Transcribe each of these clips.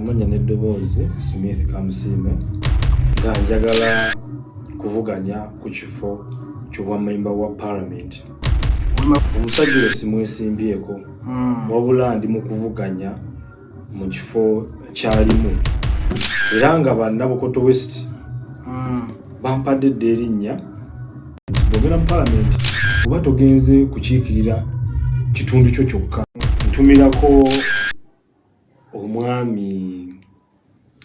amannya n'eddoboozi smith kamusiime nga njagala kuvuganya ku kifo ky'obwamemba wa palamenti omusajja oyo simwesimbyeko hmm. wabula ndi mu kuvuganya mu kifo kyalimu era nga bannabukoto west hmm. bampadde dda erinnya bwogera mu palamenti oba togenze kukiikirira kitundu kyo kyokka ntumirako omwami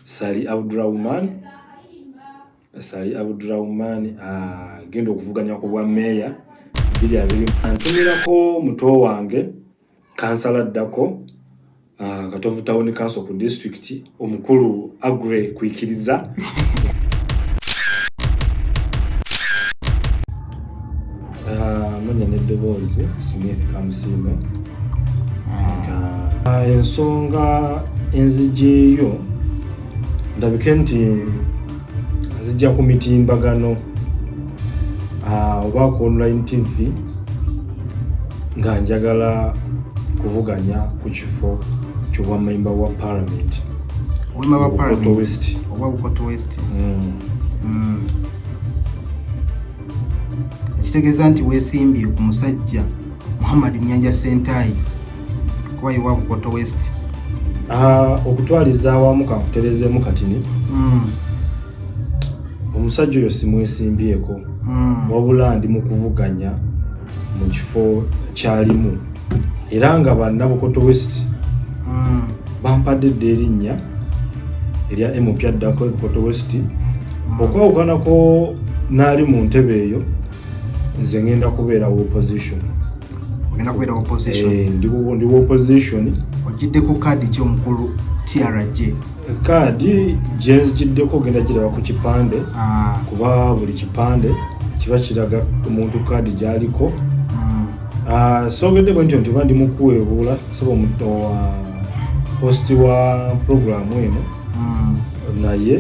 sali abdurahman sali abdurahman agenda ah, okuvuganya ku bwa meeya biri abiri antumirako muto wange kansala addako ah, katovu tawuni kanso ku disitulikiti omukulu agre kwikiriza ah, munya neddoboozi smith kamusimbe ah, ensonga enzigyeyo ndabike nti zijja ku mitimbagano ah, oba ku online tv nga njagala kuvuganya ku kifo kyobwamemba wa parliament ekitegeeza nti wesimbye ku musajja Muhammad Nyanja Sentayi kuba iwa Bukoto West ah, okutwaliza awamu kakuterezeemu katini mm. omusajja oyo simwesimbyeko mm. wabula ndi mu kuvuganya mu kifo kyalimu era nga banna Bukoto West mm. bampadde dda erinnya erya emupya addako Bukoto West mm. okwawukanako naali mu ntebe eyo nze ngenda kubeera wa opposition ogenda kubeera wa opposition eh, ndi wa opposition ogiddeko kaadi ki omukulu trj kaadi gyenzigiddeko ogenda giraba ku kipande ah. kuba buli kipande kiba kiraga omuntu kaadi gyaliko hmm. ah, sogedde bwe ntyo nti oba ndi mukuweebuula saba omuto wa hosti wa programu eno hmm. naye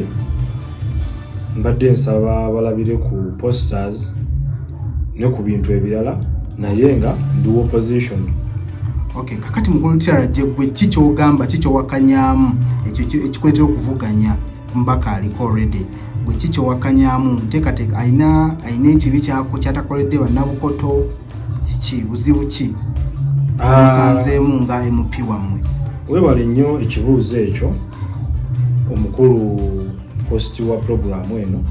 mbadde nsaba balabire ku posters ne ku bintu ebirala naye nga ndi opposition okay kakati mukulu tyara jegwe ki kyogamba ki kyowakanyamu ekyo ekikuletera okuvuganya mbaka aliko already gwe ki kyowakanyamu nteekateeka alina alina ekibi kyako kyatakoledde bannabukoto kiki buzibu ki ah. musanzeemu nga mp wammwe webale nnyo ekibuuzo ekyo omukulu host wa pulogulaamu eno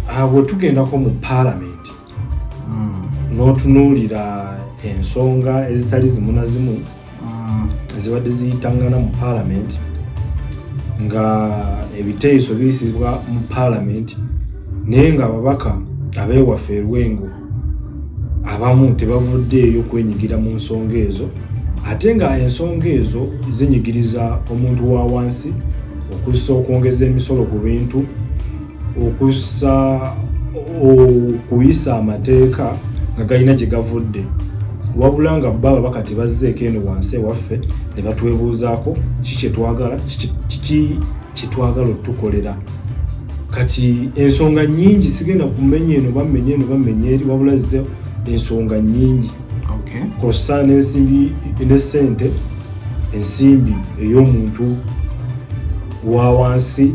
awo ah, tugendako mu paalamenti hmm. n'otunuulira ensonga ezitali zimu na zimu hmm. ezibadde ziyitangana mu paalamenti nga ebiteeso biyisibwa mu paalamenti naye nga ababaka abeewaffe erwengo abamu tebavuddeeyo kwenyigira mu nsonga ezo ate nga ensonga ezo zinyigiriza omuntu wa wansi okussa okwongeza emisolo ku bintu okussa okuyisa amateeka nga galina gye gavudde wabula nga bba baba kati bazzeeko eno wansi ewaffe ne batwebuuzaako ki kyetwagala kiki kyetwagala otukolera kati ensonga nyingi sigenda kumenya eno bamenya eno bamenya eri wabula ze ensonga nyingi kosa nensimbi ne sente ensimbi ey'omuntu wa wansi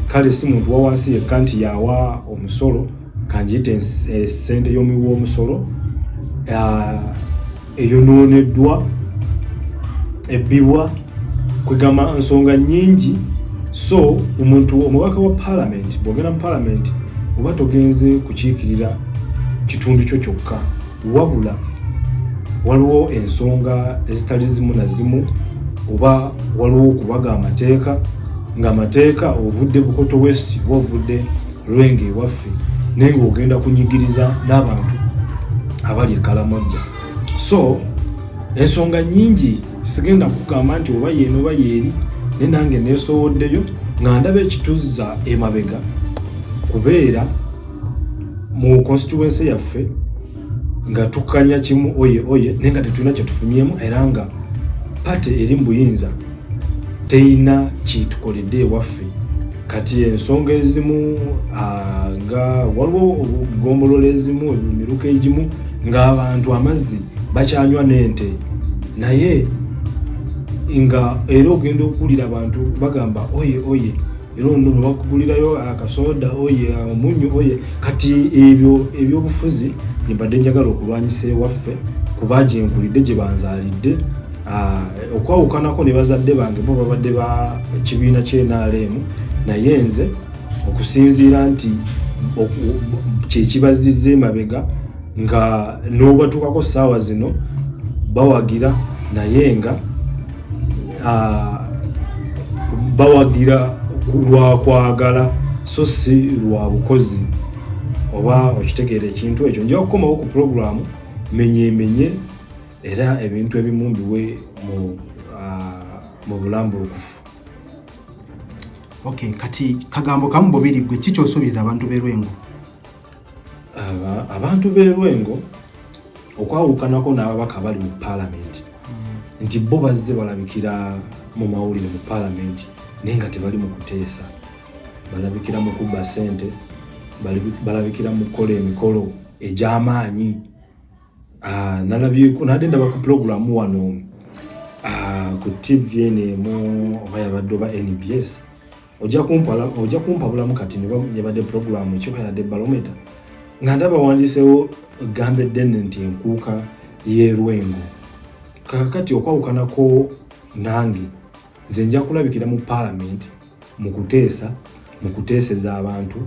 kale si muntu wa wansi yekka nti yawa omusolo kanjiyite eh, sente y'omuwi w'omusolo ah, eyonooneddwa ebbibwa kwegamba nsonga nyingi so omuntu omubaka wa palamenti bwogenda mu palamenti oba togenze kukiikirira kitundu kyo kyokka wabula waliwo ensonga ezitali zimu na zimu oba waliwo okubaga amateeka ng'amateeka ovudde bukoto west oba ovudde lwenge ewaffe naye ng'ogenda kunyigiriza n'abantu abali ekalamojja so ensonga nyingi sigenda kugamba nti oba yeeno oba yeeri naye nange neesowoddeyo nga ndaba ekituzza emabega kubeera mu constituency yaffe nga tukanya kimu oye oye naye nga tetulina kyetufunyemu era nga pate eri mu buyinza teyina kyetukoledde ewaffe kati ensonga ezimu nga waliwo gombolola ezimu emiruka egimu ng'abantu amazzi bakyanywa n'ente naye nga era ogenda okuwulira abantu bagamba oye oye era ono nobakugulirayo akasoda oye omunyu oye kati ebyo ebyobufuzi mbadde njagala okulwanyisa ewaffe kuba gyenkulidde gye banzalidde ah, okwawukanako ne bazadde bange bo babadde ba kibiina kyenrm naye nze okusinziira nti kyekibazizza emabega nga n'obatuukako ssaawa zino bawagira naye nga ah, bawagira lwa kwagala so si lwa bukozi oba okitegeera ekintu ekyo nja kukomawo ku pulogulaamu menyemenye era ebintu ebimu mbiwe mu ah, bulambulukufu okay kati kagambo kamu bubiri gwe kikyosuubiza abantu berwengo abantu b'e Lwengo okwawukanako n'ababaka bali mu paalamenti hmm. nti bo bazze balabikira mu mawulire mu paalamenti naye nga tebali mu kuteesa balabikira mu kubba ssente balabikira mu kukola emikolo egy'amaanyi ah, nalabyeko nadde ndaba ku pulogulaamu wano ah, ku tv eno emu oba yabadde oba nbs ojja kumpala ojja kumpabulamu kati ne yabadde programu kyoka yadde balometa nga ndaba wandisewo gambe denne nti enkuuka y'erwengo kakati okwawukanako nange nze nja kulabikira mu palamenti mu kuteesa mu kuteeseza abantu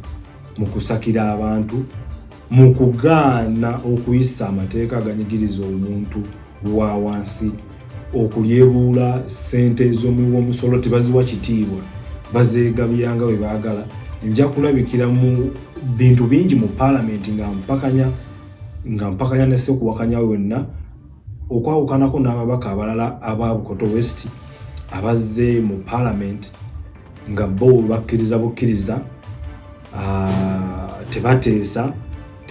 mu kusakira abantu mu kugaana okuyisa amateeka aganyigiriza omuntu wa wansi okulyebuula ssente z'omuwi w'omusolo tebaziwa kitiibwa bazeegabiranga bwe baagala nja kulabikira mu bintu bingi mu paalamenti nga mpakanya nga mpakanya ne sekuwakanya wenna okwawukanako n'ababaka abalala aba bukoto west abazze mu paalamenti nga bo bakkiriza bukkiriza ah, tebateesa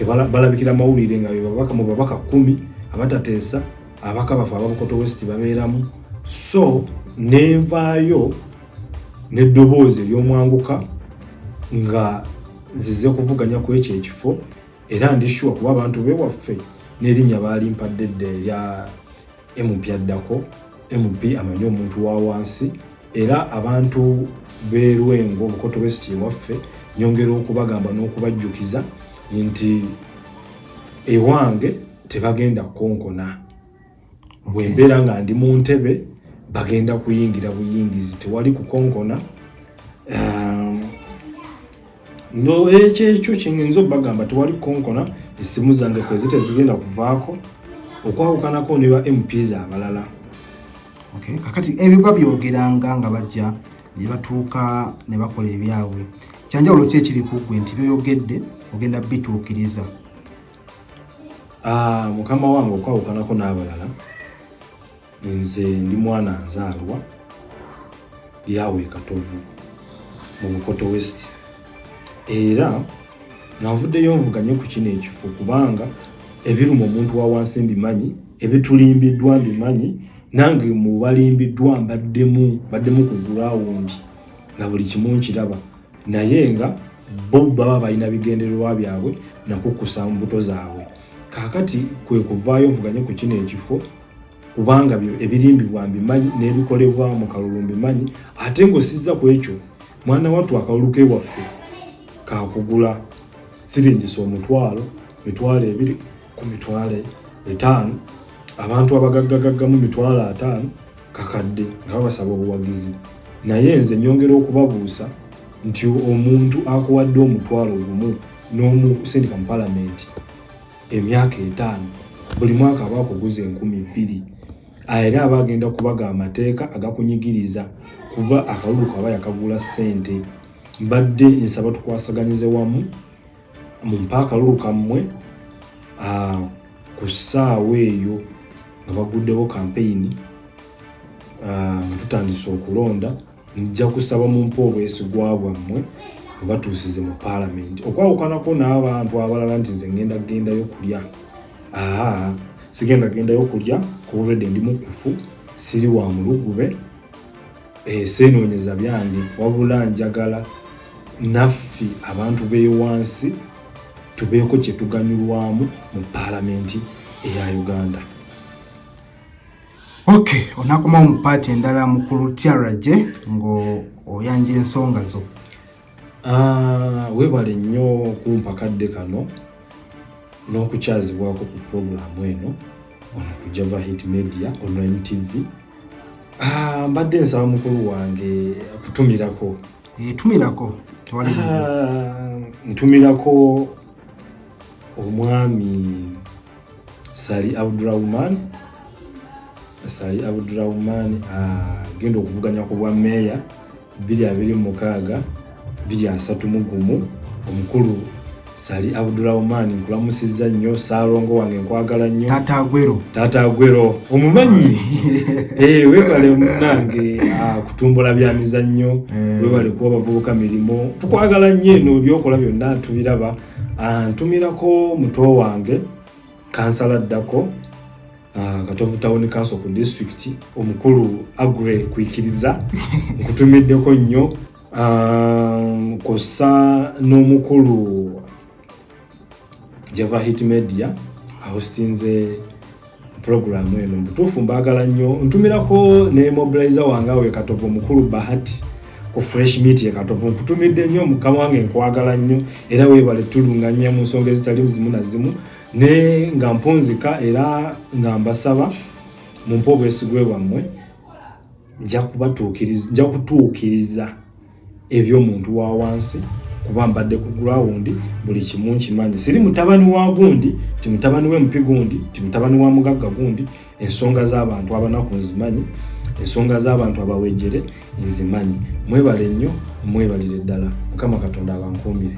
balabikira mawulire nga bebabaka mu babaka kumi abatateesa abaka bafe ababukoto west babeeramu so nenvaayo neddoboozi eryomwanguka nga zize kuvuganya ku ekyo ekifo era ndishuwa kuba abantu bewaffe n'erinnya baalimpadde dda erya MP addako MP amanyi omuntu wa wansi era abantu b'e Lwengo Bukoto West ewaffe nyongera okubagamba n'okubajjukiza nti ewange tebagenda kukonkona bwe mbeera nga ndi mu ntebe bagenda kuyingira buyingizi tewali kukonkona um, no ekyo ekyo kyengenza obagamba tewali konkona esimu zange kwezi tezigenda kuvaako okwawukanako ne ba mps abalala okay. kakati ebyo babyogeranga nga bajja ne batuuka ne bakola ebyabwe kyanjawulo ki ekiri ku ggwe nti byoyogedde ogenda bituukiriza ah, mukama wange okwawukanako n'abalala nze ndi mwana nzaalwa yaawe katovu mu bukoto west era navuddeyo nvuganye ku kino ekifo kubanga ebiruma omuntu wa wansi mbimanyi ebitulimbiddwa mbimanyi nange mubalimbiddwa mbaddemu baddemu ku gurawundi na buli kimu nkiraba naye nga bo baba balina bigendererwa byabwe nakukusa mbuto zaabwe kaakati kwe kuvaayo nvuganye ku kino ekifo kubanga ebirimbibwa mbimanyi n'ebikolebwa mu kalulu mbimanyi ate ng'osizza ku ekyo mwana wattu akalulu ke waffe kakugula siringisa omutwalo mitwalo ebiri ku mitwalo etaano abantu abagaggagaggamu mitwalo ataano kakadde nga babasaba obuwagizi naye nze nyongera okubabuusa nti omuntu akuwadde omutwalo gumu n'omusindika mu palamenti emyaka etaano buli mwaka aba akuguza enkumi bbiri era aba agenda kubaga amateeka agakunyigiriza kuba akalulu kaba yakagula ssente mbadde nsaba tukwasaganyize wamu mumpa akalulu kammwe ku ssaawa eyo nga baguddewo kampeyini nga tutandise okulonda nja kusaba mumpe obwesigwa bwammwe obatuusize mu paalamenti okwawukanako n'abantu abalala nti nze ngenda kugendayo kulya aa sigenda kugendayo kulya kubaobedde ndi mukufu siri wa mulugube eh, seenoonyeza byange wabula njagala naffe abantu bewansi tubeeko kyetuganyulwamu mu paalamenti eya uganda Okay, onakomawo mu paati endala mukulu tyaraje ng'oyanja ensonga zo. Ah, webale nnyo kumpa kadde kano n'okukyazibwako ku pulogulaamu eno ono ku Java Hit Media online TV. Ah, mbadde nsaba mukulu wange kutumirako. Eh, tumirako. Ah, ntumirako omwami Sali Abdurahman Sali Abdurahman agenda ah, okuvuganya ku bwa meeya biri abiri mukaaga biri asatu mu gumu omukulu Sali Abdurahman nkulamusizza nnyo saalongo wange nkwagala nnyo taata agwero taata agwero omumanyi eh, webale munange ah, kutumbula bya mizannyo eh. webale kuwa bavubuka mirimu tukwagala nnyo eno byokola byonna tubiraba Ah, ntumirako muto wange kansala addako ah, katovu tawuni kanso ku disitulikiti omukulu agre kwikiriza nkutumiddeko nnyo ah, kosa n'omukulu java hit media ahostinze pulogulaamu eno mubutuufu mbaagala nnyo ntumirako ne mobilizer wange awo ekatovu omukulu bahati ku fresh meat ekatovu nkutumidde nnyo mukama wange nkwagala nnyo era weebale tulunganya mu nsonga ezitali zimu na zimu ne nga mpunzika era nga mbasaba mumpe obwesigwe bwammwe nja kubatuukiriza nja kutuukiriza eby'omuntu wa wansi kuba mbadde ku ground buli kimu nkimanyi siri mutabani wa gundi ti mutabani we mupi gundi ti mutabani wa mugagga gundi ensonga z'abantu abanaku nzimanyi ensonga z'abantu abawejere nzimanyi mwebale nnyo mwebalire ddala mukama katonda abankuumire